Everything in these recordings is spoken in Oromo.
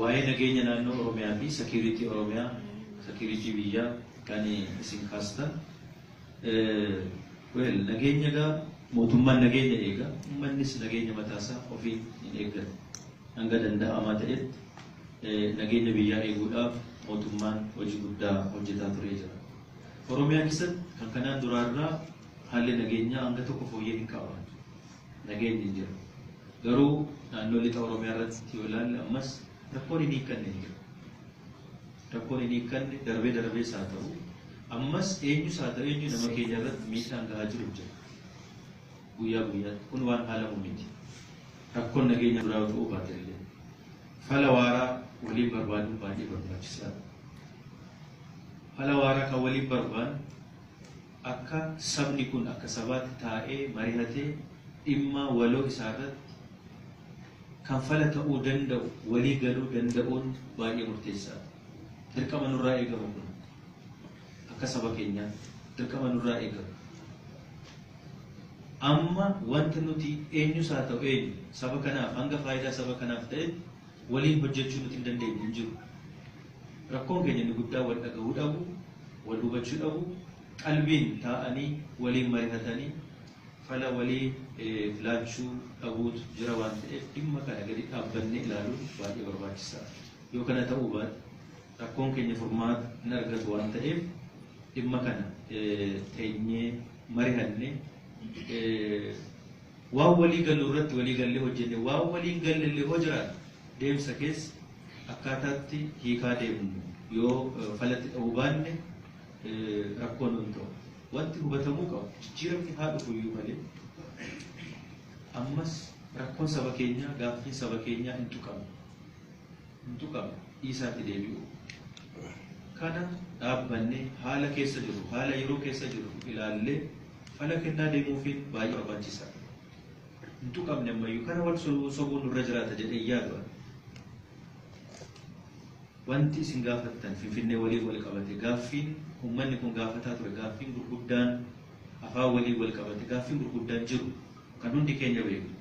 Waa'ee nageenya naannoo Oromiyaa fi security Oromiyaa, security biyyaa kan isin kaastan Well nageenya egaa mootummaan nageenya eega ummannis nageenya mataa isaa ofiin hin eeggatu. Hanga danda'amaa ta'etti nageenya biyyaa eeguudhaaf mootummaan hojii guddaa hojjetaa turee jira. Oromiyaa keessatti kan kanaan duraa irraa haalli nageenyaa hanga tokko fooyyee hin qabaatu. Nageenyi hin jiru. Garuu naannoo lixa Oromiyaa irratti yoo ilaalle ammas rakkoon hin hiikkanne hin jiru. Rakkoon hin hiikkanne darbee darbees haa ta'u ammas eenyus haa ta'u eenyu nama keenya irratti miidhaan gahaa jiru jira. Guyyaa guyyaatti kun waan haalamu miti. Rakkoon nageenya biraa yoo ta'uu baate illee fala waaraa waliin barbaaduun baay'ee barbaachisaadha. Fala waaraa kan waliin barbaannu Akka sabni kun akka sabaatti taa'ee marihatee dhimma waloo isaarratti kan fala ta'uu danda'u walii galuu danda'uun baay'ee murteessaadha. Dirqama nurraa eegamu kun akka saba keenyaatti dirqama nurraa eegamu. Amma wanta nuti eenyus haa ta'u eenyu saba kanaaf hanga faayidaa saba kanaaf ta'etti waliin hojjechuu nuti hin dandeenye hin jiru. Rakkoon keenya inni guddaan wal dhagahuu dhabuu, wal hubachuu dhabuu, qalbiin taa'anii waliin marihatanii fala waliif laachuu dhabuutu jira waan ta'eef dhimma kana gadi dhaabbannee ilaaluun baay'ee barbaachisaa dha. Yoo kana ta'uu baate rakkoon keenya furmaata hin argatu waan ta'eef dhimma kana teenyee marihannee Waan walii gallu irratti walii gallee hojjenne, waan walii hin galle illee hoo jiraate deemsa keessa akkaataa itti hiikaa deemnu yoo fala itti dhahuu baanne rakkoo nuun ta'u. Wanti hubatamuu qabu jijjiiramni haa dhufu iyyuu malee ammas rakkoon saba keenyaa, gaaffiin saba keenyaa hin tuqamne. nutu qaba dhiisaa itti deebi'uu kana dhaabbannee haala keessa jirru haala yeroo keessa jirru ilaallee fala kennaa deemuufiin baay'ee barbaachisaadha. Nutu qabne ammayyuu kana wal sobuu nurra jiraata jedhee yaadu ani. Wanti isin gaafattan Finfinnee waliin wal qabate gaaffiin uummanni kun gaafataa ture gaaffiin gurguddaan afaan waliin wal qabate gaaffiin gurguddaan jiru. Kan hundi keenya beeknu,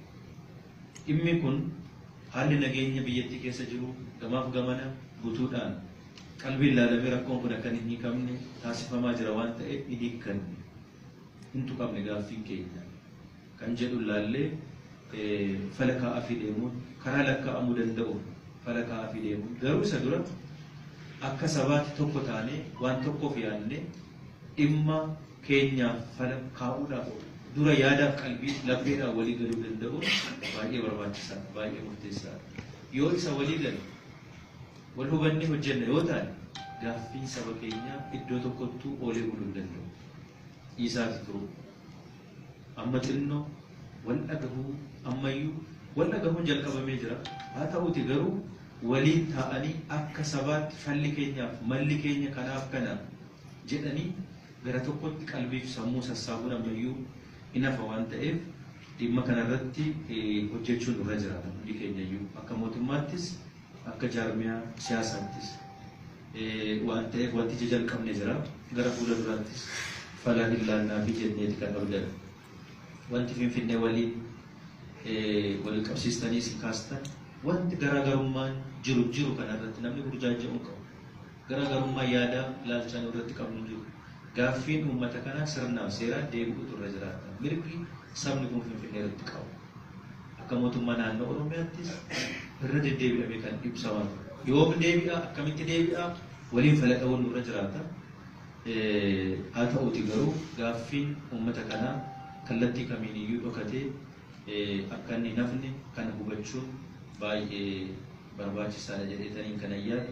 dhimmi kun haalli nageenya biyyattii keessa jiru gamaaf gamana gutuudhaan qalbiin laalamee rakkoon kun akka hin hiikamne taasifamaa jira waan ta'eef hin hiikkanne, hin tuqamne gaaffiin keenya kan jedhun laallee fala kaa'aafii deemuun karaa lakkaa'amuu danda'uun fala kaa'aafii deemuun garuu isa dura akka sabaatti tokko taanee waan tokkoof yaadnee dhimma keenyaaf fala kaa'uudhaaf dura yaadaaf qalbii, lapheedhaan walii galuu danda'uun baay'ee barbaachisaadha, baay'ee murteessaadha. Yoo isa walii galle, wal hubannee hojjenna yoo taane gaaffiin saba keenyaa iddoo tokkottuu oolee buluu hin danda'u. Dhiisaati turuu. Amma xinnoo wal dhagahuu ammayyuu wal dhagahuun jalqabamee jira. Haa ta'uuti garuu waliin taa'anii akka sabaatti falli keenyaaf malli keenya kanaaf kana jedhanii gara tokkotti qalbiif sammuu sassaabuun ammayyuu hin hafa waan ta'eef dhimma kana irratti hojjechuun nurra jiraata hundi keenyayyuu akka mootummaattis akka jaarmiyaa siyaasaattis waan ta'eef wanti ija jalqabne jira gara fuula duraattis fala hin laannaafi jenneeti kan abdannu. Wanti Finfinnee waliin wal qabsiistanii isin kaastan wanti garaagarummaan jiru jiru kanarratti namni burjaaja'uu hin qabu. Garagarummaan yaadaa fi ilaalchaa nu irratti qabnu hin jiru. Gaaffiin uummata kanaa sirnaa fi seeraan deebi'uutu irra jiraata. Mirgi sabni kun Finfinnee irratti qabu akka mootummaa naannoo Oromiyaattis irra deddeebi'amee kan ibsamaa ture. Yoom deebi'a, akkamitti deebi'a waliin fala dha'uun nurra jiraata. Haa ta'uutii garuu gaaffiin uummata kanaa kallattii kamiin iyyuu dhokatee akka inni hin hafne kana hubachuun baay'ee barbaachisaadha jedheetaniin kanan yaadu.